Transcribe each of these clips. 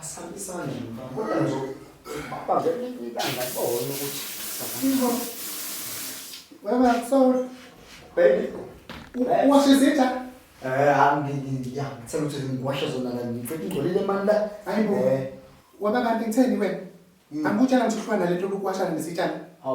Asambisane mfana. Kodwa nje baba ngeke ilanga bona ukuthi Yebo. Baba sorry. Baby. Washe izitha? Eh hambi ngiya. Ngithanda ukuthi ngiwashe zona la ngicela ingcolile mani la. Hayibo. Waba kanti ngitheni wena? Mm. Angikutshela ngithi uhlukana nalento lokuwashana nesitshana.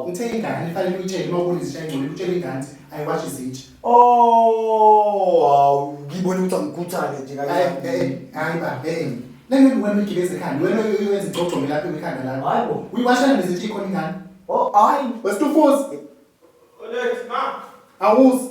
Ngithe ingane ifanele uyitshele uma ubona izitsha engcono utshele ingane ukuthi ayiwashi izitsha. Oh, hawu ngibona ukuthi angikhuthale nje Hayi kancane. eh, hayi ba eh. Lenge wena ugibeza ekhanda wena uyenza igcogcome lapha ekhanda lakho. Hayi bo. Uyiwashana nezitsha ikhona ingane. Oh, hayi. Wesidufuzi Olethi ma. awuzi.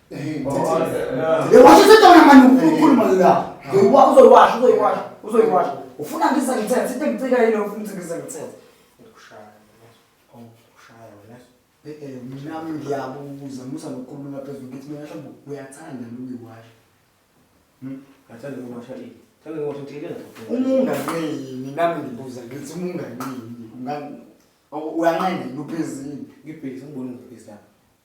washo sedona mani ukhuluma la uzoyiwasha uzoyiwasha uzoyiwasha ufuna ngise ngithethe into engicika yile ufuna ukuthi ngise ngithethe nami ngiyabuza musa nokukhuluma phezulu ngithi mina hlambe uyathanda lokuyiwasha ngathanda ukuwasha ini thanda ukuwasha into ilenza umunganini nami ngibuza ngithi umunganini uyanqena yini uphezini ngibhekise ngibone ngibhekise lapha